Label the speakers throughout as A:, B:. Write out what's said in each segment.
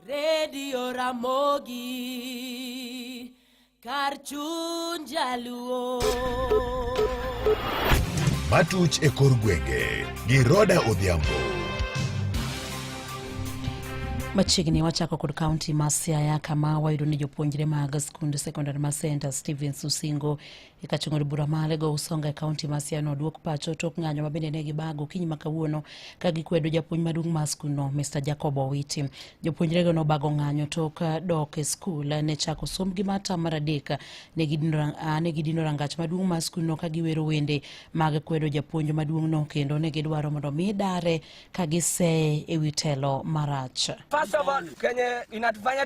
A: Redio Ramogi kar chuny jaluo.
B: Matuch e kor gwenge gi Roda Odhiambo.
C: Machiegni wachako kod kaunti ma Siaya kama wayudo ni jopuonjre mag skund sekondar ma St Stevens Usingo e ka chungo bura male go usonga e kaunti ma Siaya nodwok pacho tok ng'anyo ma bende ne gibago kiny ma kawuono ka gikwedo japuonj maduong' mar skundno Mr Jacob Owiti. Jopuonjrego nobago ng'anyo tok dok e skul ne chako sombgi mar tam mar adek ne gidino rangach maduong' mar skundno ka giwero wende mag kwedo japuonj maduong'no kendo ne gidwaro mondo mi dare ka giseye e wi telo marach. First of all,
D: kenye inatufanya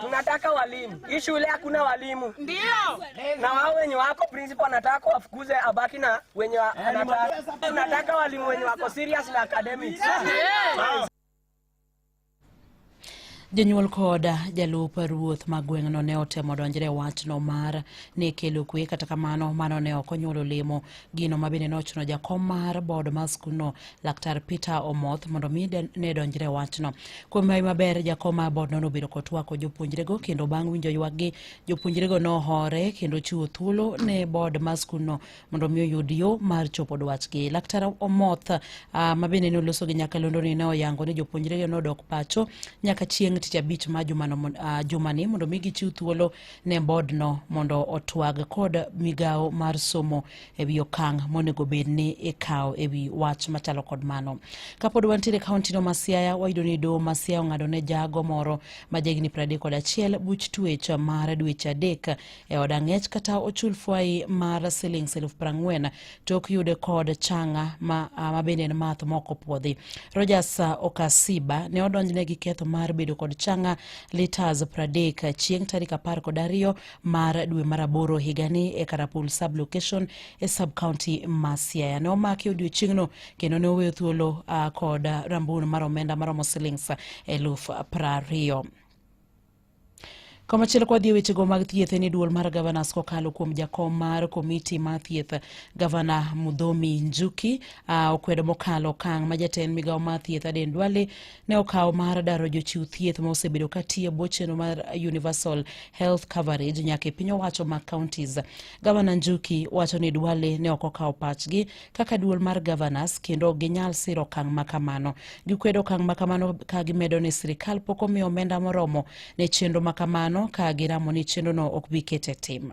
D: Tunataka walimu. Hii shule hakuna walimu. Ndio. Na wao wenye wako principal anataka wafukuze abaki na wenye anataka. Tunataka walimu wenye wako serious na academics.
C: Jonyuol kod jalup ruoth ma gweng'no ne otemo donjre e wachno mar ne kelo kwe kata kamano mano ne ok onyuolo lemo gino ma bende nochuno jakom mar bod mar skundno Laktar Peter Omoth mondo mi ne donjre wachno. Kuom mai maber jakoma bodno nobedo kotwako jopuonjrego kendo bang' winjo ywakgi jopuonjrego nohore kendo chiwo thuolo ne bod mar skundno mondo mi oyud yo mar chopo dwachgi. Laktar Omoth uh, ma bende ne oloso gi nyakalondo ni ne oyango ni jopuonjrego nodok pacho nyaka chieng' tich abich ma jumano, uh, jumani mondo mi gichiw thuolo ne bodno mondo otwag kod migawo mar somo e wi okang' monego bed ni ikawo e wi wach machalo kod mano. Kapod wantiere kauntino ma Siaya, wayudo ni doho ma Siaya ong'ado ne jago moro ma jahigni 31 buch tuech mar dweche adek e od ang'ech kata ochul fwai mar silings eluf prang'wen to ok yude kod changa ma, ma bende en math mok opuodhi. Rogers Okasiba ne odonjne gi ketho mar bedo kod changa litas 30 chieng' tarik apar kod ariyo mar dwe mar aboro higani e Karapul sublocation e subcounty ma Siaya. Ne omaki odiochieng'no kendo ne oweyo thuolo uh, kod rambun mar omenda maromo silings eluf prariyo. Komachielo kwa dhi wechego mag thieth en duol mar gavanas kokalo kuom jakom mar komiti mar thieth gavana Mudhomi Njuki uh, okwedo mokalo okang' ma jatend migawo mar thieth Aden Duale ne okawo mar daro jochiw thieth ma osebedo ka tiyo bwo chenro mar universal health coverage nyaka e piny owacho mag counties gavana njuki wacho ni dwale ne ok okawo pachgi kaka duol mar governors kendo ok ginyal siro okang' ma kamano gikwedo okang' ma kamano ka gimedo ni sirikal pok omiyo omenda moromo ne chenro ma kamano ka giramo ni chenrono ok bi kete tim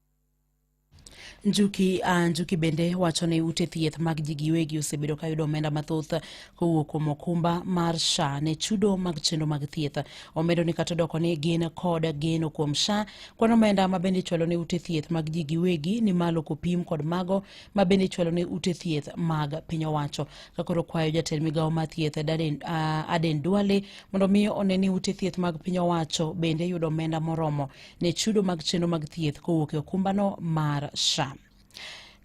C: Njuki, uh, Njuki bende wacho ni ute thieth mag ji giwegi osebedo ka yudo omenda mathoth kowuok kuom okumba mar SHA ne chudo mag chenro mag thieth. Omedo ni kata odoko ni gin kod geno kuom SHA, kwan omenda ma bende ichwalo ne ute thieth mag ji giwegi ni malo kopim kod mago ma bende ichwalo ne ute thieth mag piny owacho. Kakoro kwayo jatend migawo mar thieth Aden, uh, Aden Duale mondo mi one ni ute thieth mag piny owacho bende yudo omenda moromo ne chudo mag chenro mag thieth kowuok e okumbano mar SHA.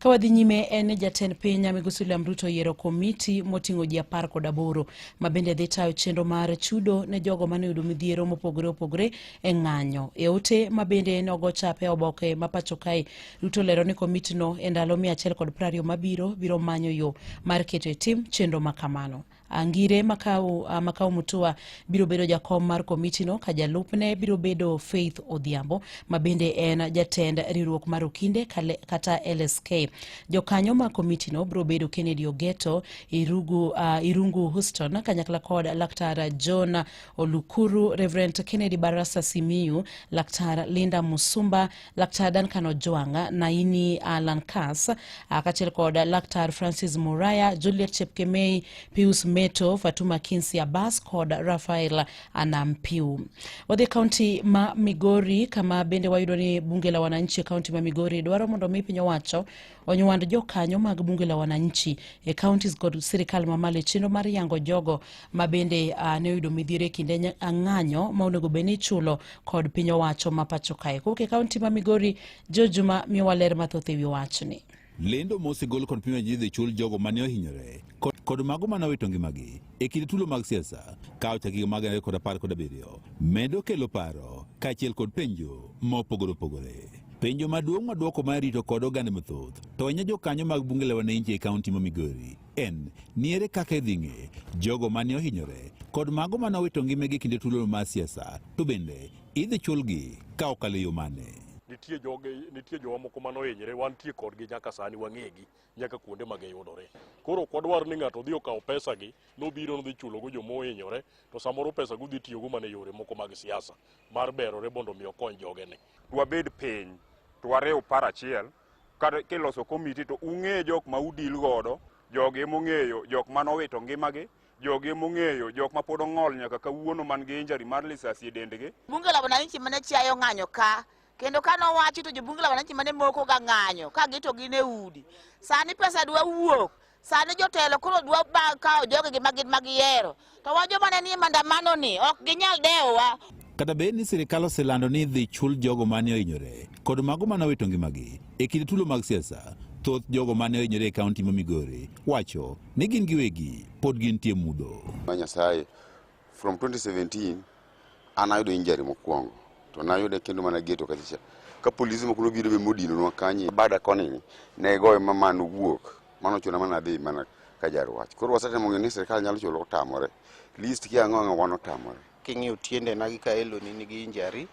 C: Ka wadhi nyime en ni jatend piny Migosi William Ruto yiero komiti moting'o ji apar kod aboro ma bende dhi tayo chenro mar chudo ne jogo mane oyudo midhiero mopogore opogore e ng'anyo. E ote ma bende nogo chap e oboke ma pacho kae, Ruto lero ni komitino e ndalo mia achiel kod prariyo mabiro biro manyo yo mar keto e tim chenro ma kamano. Angire Makau, uh, Makau Mutua biro bedo jakom mar komitino ka jalupne biro bedo Faith Odhiambo ma bende en jatend riwruok mar Okinde kata LSK. Jokanyo ma komitino biro bedo Kennedy Ogeto, Irugu, uh, Irungu Houston kanyakla kod Laktar John Olukuru, Reverend Kennedy Barasa Simiyu, Laktar Linda Musumba Laktar Duncan Ojwang', Naini Alan Kas, kaachiel kod Laktar Francis Muraya, Juliet Chepkemei, Pius Meto, Fatuma Kinsi Abbas kod Rafael Anampiu. Wadhi kaunti ma Migori kama bende wayudo ni bunge la wananchi e kaunti ma Migori dwaro mondo mi piny owacho onywand jokanyo mag bunge la wananchi e counties kod sirikal mamalo e chenro mar yango jogo ma bende uh, ne oyudo midhiero e kinde ng'anyo ma onego bed ni ichulo kod piny owacho ma pacho kae kowuok e kaunti ma migori jojuma miyowa ler mathoth e wi wachni lendo mosegol
E: kod pimo ji dhi chul jogo mane ohinyore kod mago mane owito ngimagi e kinde tulo mag siasa ka ochak higa mag ariyo kod apar kod abiriyo medo kelo paro kaachiel kod penjo ma opogore opogore. Penjo maduong' ma dwoko ma rito kod oganda mathoth to ahinya jokanyo mag bunge la wananchi e kaunti ma Migori en ni ere kaka idhi ng'e jogo mane ohinyore kod mago mane owito ngimagi e kinde tulo mar siasa to bende idhi chulgi ka okalo e yo mane. nitie joge
F: nitie jowa moko mano hinyre wantie kodgi nyaka sani wang'egi nyaka kuonde ma giyudore. Koro ok wadwar ni ng'ato dhi okawo pesagi nobiro nodhi chulogo joma ohinyore to samoro pesago udhi tiyogo mana e yore moko mag siasa mar berore mondo mi okony jogene. Dwabed piny
G: to wariw par achiel kata kiloso komiti to ung'e jok ma udil godo jogi ema ong'eyo jok mane owito ngimagi jogi ema ong'eyo jok ma pod ong'ol nyaka kawuono man gi injury mar lisasi e dendgi Bunge la Wananchi mane
H: chiayo ng'anyo ka kendo ka nowachi to jobunge la wananchi mane moko ga ng'anyo ka gito gin e udi sani pesa dwa wuok sani jotelo koro dwa ba- kawo jogi gi magin ma gihero to wa joma ne nie mandamano ni ok ginyal dewowa Kata bed ni
E: sirkal oselando ni idhi chul jogo mane ohinyore kod mago mane owito ngimagi e kinde tulo mag siasa, thoth jogo mane ohinyore e kaunti ma Migori wacho ni gin giwegi pod gintie mudho. ma Nyasaye
I: From 2017 an ayudo injury mokwongo to nayude kendo mana geto kachacha ka polise moko nobiro be modinonwa kanye bada koni ne goye ma mano wuok mano chuna mana dhi mana ka jarwach koro wasetemo ng'eyo ni sirikal nyalo chulo otamore list kia ang'o ang'o wan otamore king'iyo tiendena
J: gi ka eloni nigi injury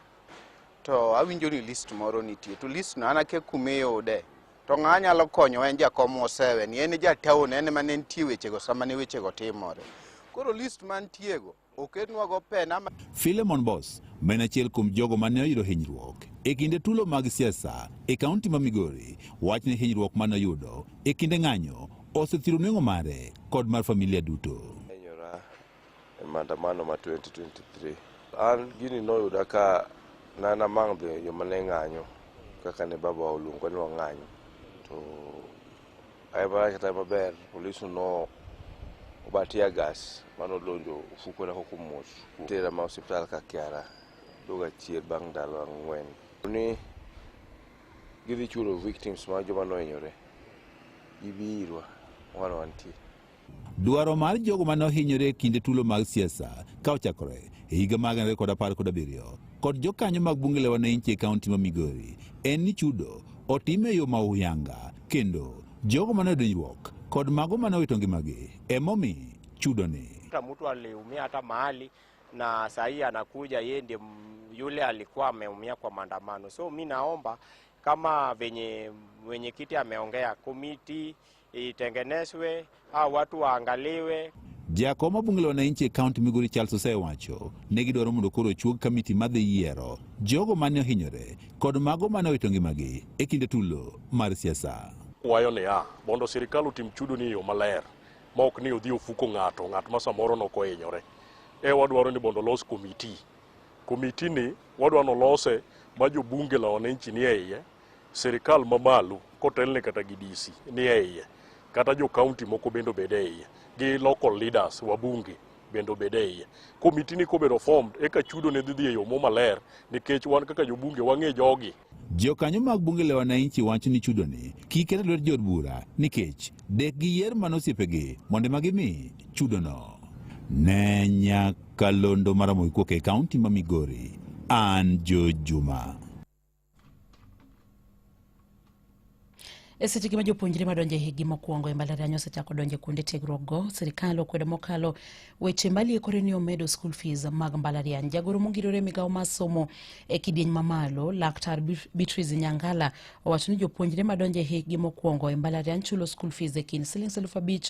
J: to awinjo ni list moro nitie to list no an akia kuma iyude To ng'a nyalo konyo en jakom mosewe ni en e jataon en ema ne nitie wechego sama ne wechego timore. Koro list mantiego oketnwago pena. Philemon Boss
E: ma en achiel kuom jogo ma ne oyudo hinyruok e kinde tulo mag siasa e kaunti ma Migori wach ni hinyruok ma noyudo e kinde ng'anyo osethiro nweng'o mare kod mar familia duto. e maandamano
K: ma 2023. An gini noyuda ka nana mang' dhi joma ne ng'anyo kaka ne baba oluongo ni wang'anyo to ayemaracha tayo maber polis no obatia gas mano donjo ofuko na koko mos tera ma hospital ka kiara doga chier bang' ndalo ang'wen ni gidhi chulo victims ma joma nohinyore gibi irwa wan wantie Dwaro
E: mar jogo mane ohinyore e kinde tulo mag siasa ka ochakore e higa mag 2017 kod jokanyo mag bunge la wananchi e kaunti ma Migori en ni chudo otim e yo ma uyanga kendo jogo mane odonjruok kod mago mane owito ngimagi emomi chudoni. Mtu aliumia
L: hata mahali na sahii anakuja yeye ndiye yule alikuwa ameumia kwa maandamano, so mi naomba kama venye mwenyekiti ameongea komiti itengenezwe au watu waangaliwe. Jakom mabunge
E: la wananchi e kaunti Migori Charles osewacho ne gidwaro mondo koro ochuog kamiti madhi yiero jogo mane ohinyore kod mago mane owito ngimagi e kinde tulo mar siasa. Wayo niya
F: mondo sirikal otim chudo ni yo maler ma ok ni odhi ofuko ng'ato ng'at ma samoro nok ohinyore. E wadwaro ni mondo olos komiti. Komiti ni wadwa nolose ma jobunge la wananchi ni e iye sirikal mamalo kotelne kata gi DC ni e iye kata jo county moko bende obed e iye gi local leaders wabunge bende obed e iye komiti ni kobedo formed eka chudo ne dhi dhi e yo mo maler nikech wan kaka jobunge wang'e jogi Jokanyo mag
E: bunge la wananchi wacho ni chudoni kik ket e lwet jood bura nikech dek giyier mana osiepegi mondo ema gimi chudono. Ne nyakalondo mar Ramogi Kuok e kaunti ma Migori, an Joe Juma.
C: E seche gi ma jopuonjre madonjo e higni mokwongo e mbalariany osechako donjo e kuonde tiegruokgo, sirikal okwedo mokalo weche maliekore ni omedo school fees mag mbalariany. Jagoro mongirore migawo mar somo e kidieny mamalo, Laktar Beatrice Nyangala owacho ni jopuonjre madonjo e higni mokwongo e mbalariany chulo school fees e kind silings eluf abich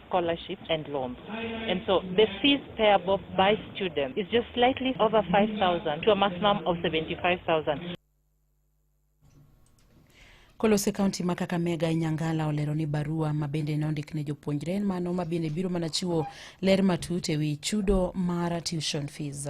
M: scholarship and loans. And so the fees payable by students is just slightly over 5,000 to a maximum of 75,000.
C: Kolose kaunti ma Kakamega e Nyangala olero ni barua ma bende ne ondik ne jopuonjre en mano ma bende biro mana chiwo ler matut e wi chudo mar tuition fees.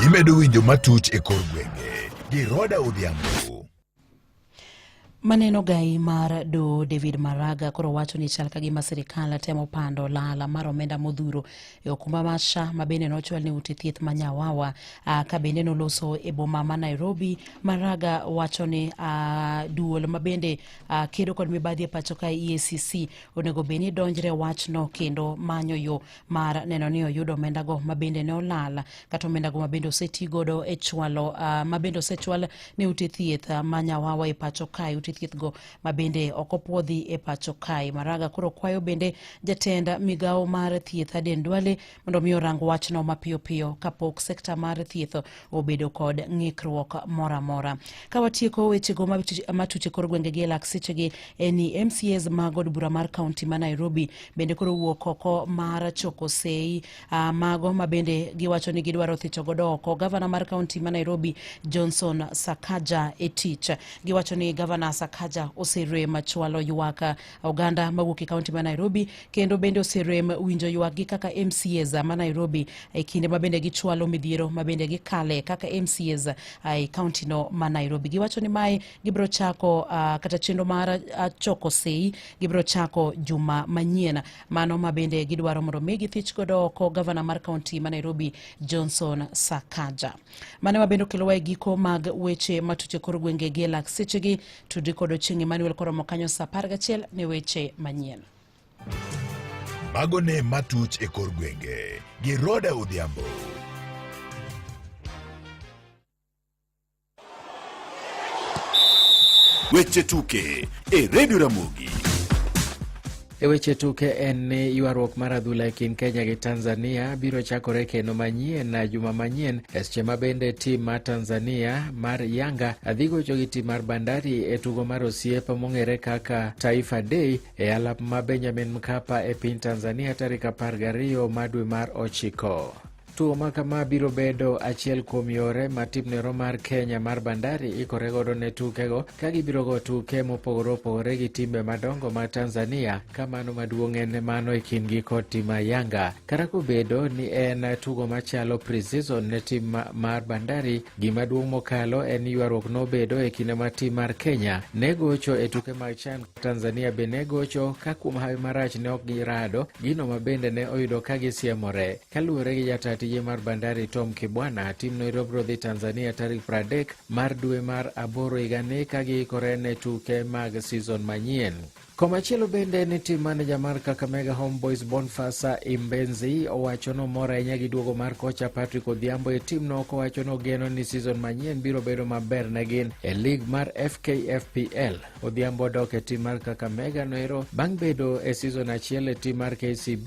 M: Gimedo
B: winjo matuch e kor gwenge gi Roda Odhiambo.
C: Maneno gai mar do David Maraga koro wacho ni chal ka gima sirikal temo pando lala mar omenda modhuro e okumba mar SHA ma bende nochwal ni ute thieth ma Nyawawa ka bende noloso e boma ma Nairobi. Maraga wacho ni duol ma bende kedo kod mibadhi e pacho ka EACC onego bed ni donjre wachno kendo manyo yo mar neno ni oyudo omendago mabende ne olal kata omendago mabende oseti godo e chwalo uh, mabende osechwal ne ute thieth uh, ma nyawawa e pacho kae ute thiethgo mabende ok opwodhi e pacho kae maraga koro kwayo bende jatend migawo mar thieth aden dwale mondo mi orang wachno mapiyo piyo kapok sekta mar thieth obedo kod ng'ikruok moro amora. Ka watieko wechego matuche kor gwengegi e lak sechegi en ni MCAs mag od bura mar kaunti ma Nairobi bende koro wuok oko mar choko sei uh, mago ma bende giwacho ni gidwaro thicho godo oko gavana mar kaunti ma Nairobi Johnson Sakaja e tich. Giwacho ni gavana Sakaja oserem chwalo ywak oganda mawuok e kaunti ma Nairobi kendo bende oserem winjo ywakgi kaka MCAs ma Nairobi e kinde ma bende gichwalo midhiero ma bende gikale kaka MCAs e kaunti no ma Nairobi. Giwacho ni mae gibiro chako uh, kata chenro mar uh, choko sei gibiro chako juma manyien mano ma bende gidwaro mondo mi githich godo oko gavana mar kaunti ma Nairobi Johnson Sakaja. mane wabende okelowa e giko mag weche matuch e kor gwenge gi e lak sechegi tudri kod ochieng' emmanuel koromo kanyo sa apar gachiel ne weche manyien
B: mago ne matuch e kor gwenge gi roda odhiambo Weche tuke e redio Ramogi.
N: E weche tuke en ni ywaruok mar adhula e kind Kenya gi Tanzania biro chakore kendo manyien na juma manyien e seche ma bende tim mar Tanzania mar Yanga dhi gocho gi tim mar Bandari e tugo mar osiep mong'ere kaka Taifa Day e alap ma Benjamin Mkapa e piny Tanzania tarik 12 ma dwe mar ochiko. Tuo ma kama biro bedo achiel kuom yore ma tim nero mar Kenya mar Bandari ikore godo ne tukego ka gibiro go tuke mopogore opogore gi timbe madongo ma Tanzania ka mano maduong' en mano e kindgi kod tim ma Yanga. Kata kobedo ni en tugo machalo pre-season ne tim mar Bandari, gima duong' mokalo en ywaruok nobedo e kinde ma tim mar Kenya ne gocho e tuke mag CHAN. Tanzania be ne gocho ka kuom hawi marach ne ok girado, gino ma bende ne oyudo ka gisiemore. Kaluwore gi jataa tije mar Bandari Tom Kibwana, timno irobro dhi Tanzania tarik 30 mar dwe mar aboro higani ka giikore ne tuke mag season manyien. Komachielo bende ni tim maneja mar Kakamega Homeboys Bonfasa Imbenzi owacho ni omor ahinya gi duogo mar kocha Patrick Odhiambo e timno kowacho ni ogeno ni season manyien biro bedo maber ne gin e lig mar FKFPL. Odhiambo odok e tim mar Kakamega noero bang' bedo e season achiel e tim mar KCB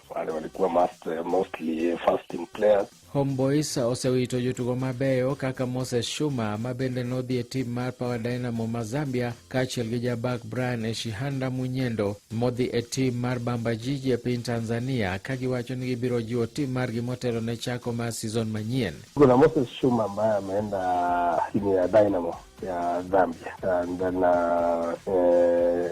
O: wale walikuwa must, uh, mostly uh, first team players.
N: Homeboys osewito jotugo mabeyo kaka Moses Shuma ma bende nodhi e tim mar Power Dynamo ma Zambia kaachiel gi jabak Brian Eshihanda Munyendo modhi e tim mar Bamba Jiji e piny Tanzania ka giwacho ni gibiro jiwo tim margi motelo ne chako mar season manyien. Kuna Moses Shuma
O: ambaye ameenda timu ya Dynamo ya Zambia and then, uh, eh,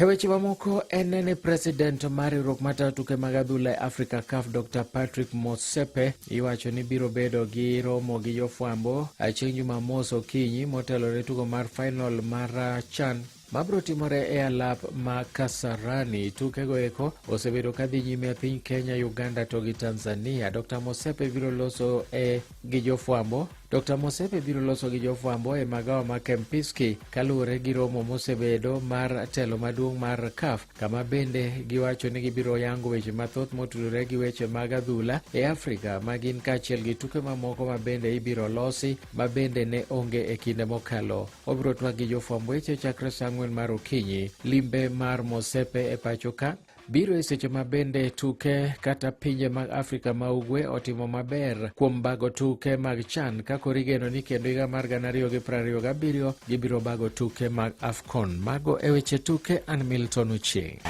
N: E weche mamoko en ne ni president mar riwruok matayo tuke mag adhula e Africa CAF Dr Patrick Motsepe iwacho ni biro bedo gi romo gi jofwambo chieng' Jumamos okinyi motelo ne tugo mar final mar CHAN mabiro timore e alap ma Kasarani. Tukego eko osebedo ka dhi nyime e piny Kenya, Uganda to gi Tanzania. Dr Motsepe biro loso e gi jofwambo Dr. Mosepe biro loso gi jofwambo e magawa ma Kempinski kaluwore gi romo mosebedo mar telo maduong' mar CAF kama bende giwacho ni gibiro yango weche mathoth motudore gi weche mag adhula e Afrika ma gin kaachiel gi tuke mamoko ma bende ibiro losi ma bende ne onge e kinde mokalo. Obiro twak gi jofwamb weche chakre sa ang'wen mar okinyi. Limbe mar Mosepe e pacho ka Biro e seche ma bende tuke kata pinje mag Afrika ma Ugwe otimo maber kuom bago tuke mag CHAN ka koro igeno ni kendo higa mar gana ariyo gi piero ariyo gabiriyo gibiro bago tuke mag AFCON. Mago e weche tuke, an Milton Ochieng'.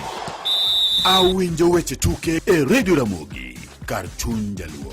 B: Awinjo weche tuke e redio Ramogi kar chuny jaluo.